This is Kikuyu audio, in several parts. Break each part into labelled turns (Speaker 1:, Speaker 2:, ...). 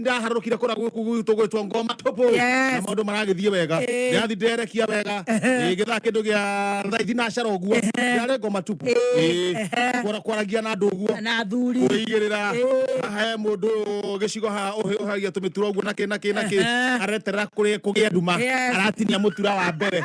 Speaker 1: ndiraharũrũkire kũrĩa gwĩku gwitũ gwĩtwo ngoma tũpũ Yes. na maũndũ maragĩthiĩ wega Eh. ndĩrathi nderekia wega Ehe. Eh, gĩthaa kĩndũ gĩa thaithi nacara ũguo ndĩrarĩ ngoma tũpũ Eh, Eh, ehe. kwara- kwaragia na andũ ũguo na athuri kuigirira Eh. haha he mundu gicigo haha uhi- uhagia tumitura uguo naki naki naki Ehe. areterera kuri kugia nduma Yes. aratinia mutura wa mbere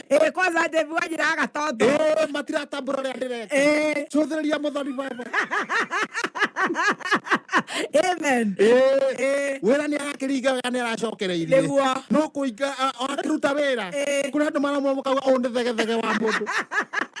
Speaker 1: Eh, kwanza
Speaker 2: Dave wajira aga toto. Eh, matiratambura ria
Speaker 1: ndireka. Eh. Cuthiria muthoni baba.
Speaker 2: Amen. Eh. Eh.
Speaker 1: Wira ni arakiringa wega ni aracokereirie. Niguo. No kuinga akiruta wira. Eh. Kuna andu maramwa mukaga undu thege thege wa mundu.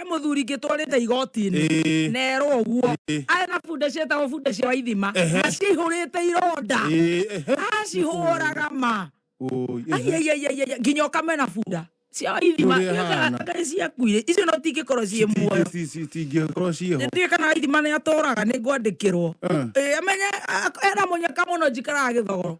Speaker 2: he muthuri ngitwarite igoti-ini Ĩĩ. nerwo ũguo Ĩĩ. arĩ na bunda cietagwo bunda cia waithima Ehe. na cihũrĩte ironda Ĩĩ, ehe. acihũraga ma Ũi, ehe. Aiaiaiaiai, nginya ũkamena bunda cia waithima Ũrĩa iria hana. kana nĩ ciakuire icio no tingĩkorwo ciĩ muoyo Ci- ci- cingĩkorwo
Speaker 1: ciĩho nĩndiä kana waithima nä
Speaker 2: atåraga nä ngwandä kä rwo Eh. amenye ena må nyaka må no njikaraga gä thogoro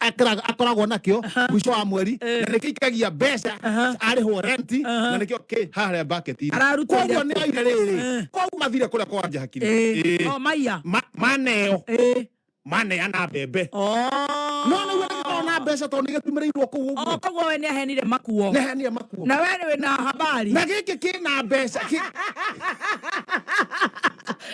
Speaker 1: ekĩra- akoragwo nakĩo mwico wa mweri Eh. na nĩkĩo ikagia mbeca Aha. arĩhwo renti Aha. na nĩkĩo kĩ harĩa mbaketi-inĩ. Araruta Koguo iria- nĩ aire rĩrĩ Eh. koguo mathire kũrĩa kwa wanja hakiri Eh, Eh. no maiya Ma-
Speaker 2: maneo
Speaker 1: Eh, maneana mbembe oh. no nĩguo nĩgĩkorwo na mbeca tondũ nĩgĩtumĩrĩirwo kũu Oh, ũguo koguo we nĩahenire
Speaker 2: makuo nehenia makuo na we
Speaker 1: nĩwĩ na
Speaker 2: habari na gĩkĩ kĩna
Speaker 1: mbeca kĩ-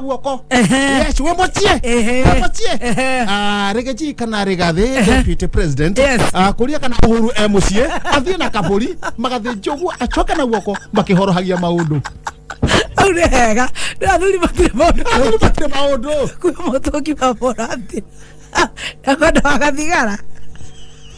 Speaker 1: wọkọ Ẹhẹ́n. yes wọ́n mọ tiẹ̀ Ẹhẹ́n. wọ́n mọ tiẹ̀ Ẹhẹ́n. Ah, regeji kana regade deputy president Yes. Ah, korea kana uhuru emusie athie na kaburi magathe njogu acoke na guoko makihorohagia maundu Au nĩ hega nĩ athuri matirĩ maũndũ athuri matire maundu kwĩ mũtũngi wa mũrati na kwenda wagathigara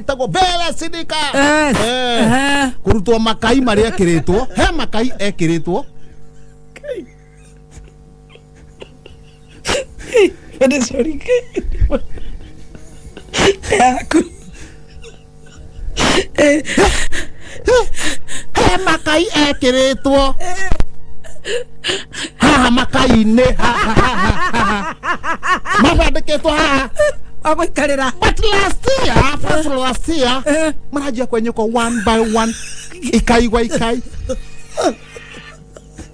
Speaker 1: ĩtagwo vera sidika Eh, Eh, eh. kũrutwo makai marĩa ekĩrĩtwo he makai ekĩrĩtwo
Speaker 2: Ende sorry ke. Yaku. Eh,
Speaker 1: he makai ekĩrĩtwo haha makai-inĩ mabandĩkĩtwo haha wagũikarĩra
Speaker 2: but last
Speaker 1: year first last year Eh. marajia kwenyuka one by one ikai gwa ikai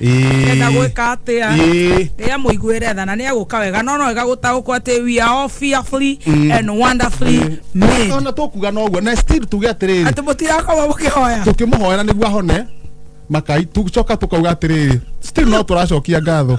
Speaker 2: enda Ĩĩ. gwika atia Ĩĩ. ria muiguire tha na ni aguka wega no no wega gutaukwo ati we are all fearfully and wonderfully made ona tũkuga noguo na
Speaker 1: still tuge atĩrĩrĩ ati mutirakorwo
Speaker 2: mukihoya tũkĩmũhoera nĩguo ahone
Speaker 1: makai tũcoka tũkauga atĩrĩrĩ still no tũracokia ngatho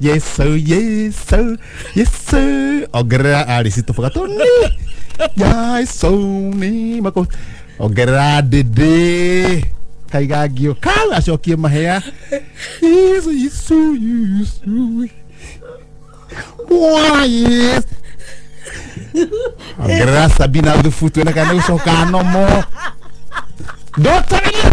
Speaker 1: Yesu, Yesu, Yesu. Ongerera arĩci tũboga tũni. Yesu ni mako. Ongerera ndĩndĩ. Kaigangio kau acokie mahea. Yesu, Yesu, Yesu. Mwana Yesu. Ongerera Sabina thubu tuone kana nĩgũcoka nomo. Ndotagĩria.